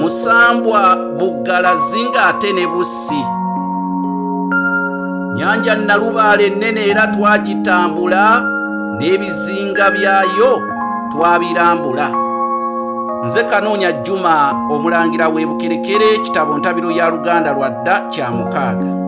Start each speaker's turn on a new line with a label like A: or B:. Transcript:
A: musambwa buggalazi ng'ate ne bussi nyanja nalubaale ennene era twagitambula n'ebizinga byayo twabirambula nze kanoonya juma omulangira w'ebukerekere kitabo ntabiro ya luganda lwa dda kya mukaaga